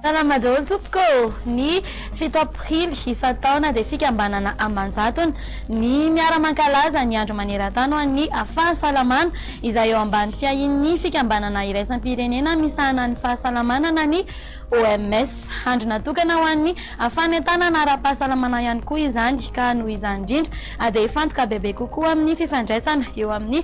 Salama daholo tompoko ô! Ny fito aprily isan-taona dia fikambanana aman-jatony ny miara-mankalaza ny andro maneran-tany ho an'ny fahasalamana izay eo ambany fiahian'ny fikambanana iraisam-pirenena misahana ny fahasalamana na ny OMS. Andro natokana ho an'ny fanentanana ara-pahasalamana ihany koa izany, ka noho izany indrindra dia hifantoka bebe kokoa amin'ny fifandraisana eo amin'ny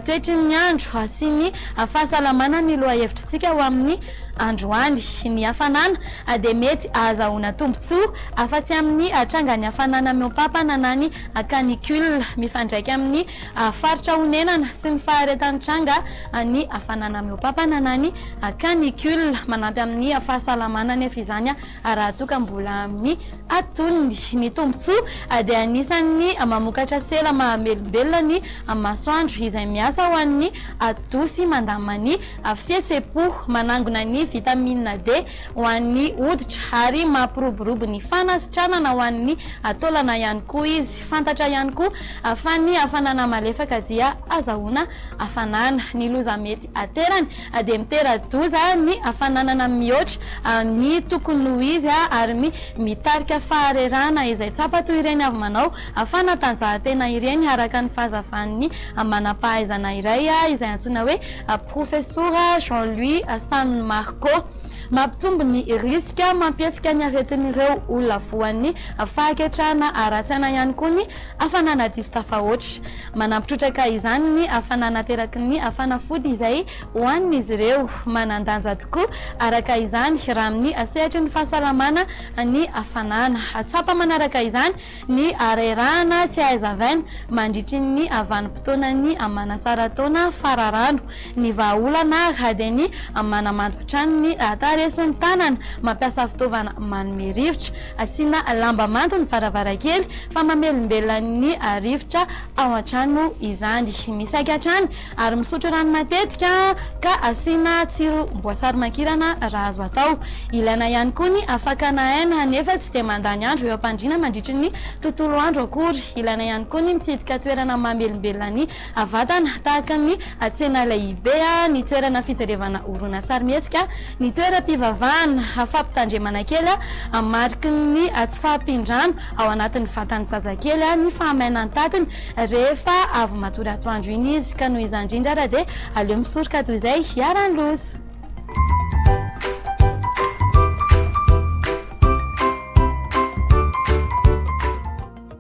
toetry ny andro sy ny fahasalamana ny lohahevitr'isika ho amin'ny androany. Ny hafanana dia mety ahazahoana tombontsoa afa-tsy amin'ny trangan'ny hafanana mihoampampana na ny canicule. Mifandraika amin'ny faritra onenana sy ny faharetan'ny tranga ny hafanana mihoampampana na ny. Canicule, manampy amin'ny fahasalamana anefa izany raha toa ka mbola amin'ny atony. Ny tombontsoa dia anisan'ny mamokatra sela mahamelombelona ny masoandro izay miasa ho an'ny atody sy mandamina ny fihetsem-po, manangona ny vitamina D ho an'ny hoditra ary mampiroborobo ny fanasitranana ho an'ny taolana ihany koa izy. Fantatra ihany koa fa ny hafanana malefaka dia azahoana hafanana. Ny loza mety aterany dia mitera-doza ny fananana mihoatra ny tokony ho izy ary mitarika faharerahana izay tsapa toy ireny avy manao fanatanjahantena ireny, araka ny fahazavan'ny manam-pahaizana iray izay antsoina hoe Profesora Jean Louis San Marco. Mampitombo ny risika mampihetsika ny aretin'ireo olona voan'ny fahaketrahana ara-tsaina ihany koa ny Hafanana diso tafahoatra. Manampy trotraka izany ny hafanana ateraky ny hafanafody izay hohanin'izy ireo. Manan-danja tokoa, araka izany, raha amin'ny sehatry ny fahasalamana ny hafanana. Tsapa manaraka izany ny harerahana tsy aizavin mandritry ny vanim-potoanan'ny manasara-taona fararano. Ny vahaolana ary dia ny manamando hatrany ny tarehy sy ny tanana mampiasa fitaovana manome rivotra. Asiana lamba mando ny varavarankely fa mamelombelona ny rivotra ao an-trano izany. Misaika hatrany ary misotro rano matetika ka asiana tsirom-boasary mankirana raha azo atao. Ilaina ihany koa ny fakana aina nefa tsy dia mandany andro eo am-pandriana mandritry ny tontolo andro akory. Ilaina ihany koa ny mitsidika toerana mamelombelona ny Avatana, tahaka ny tsena lehibe, ny toerana fijerevana horonantsary-mihetsika, ny toeram-pivavahana, fampitandremana kely amin'ny mariky ny tsy fahampian-drano ao anatin'ny vatan'ny zazakely, ny fahamainan-tatiny rehefa avy matory atoandro iny izy, ka noho izany indrindra ary dia aleo misoroka toy izay hiharan'ny loza.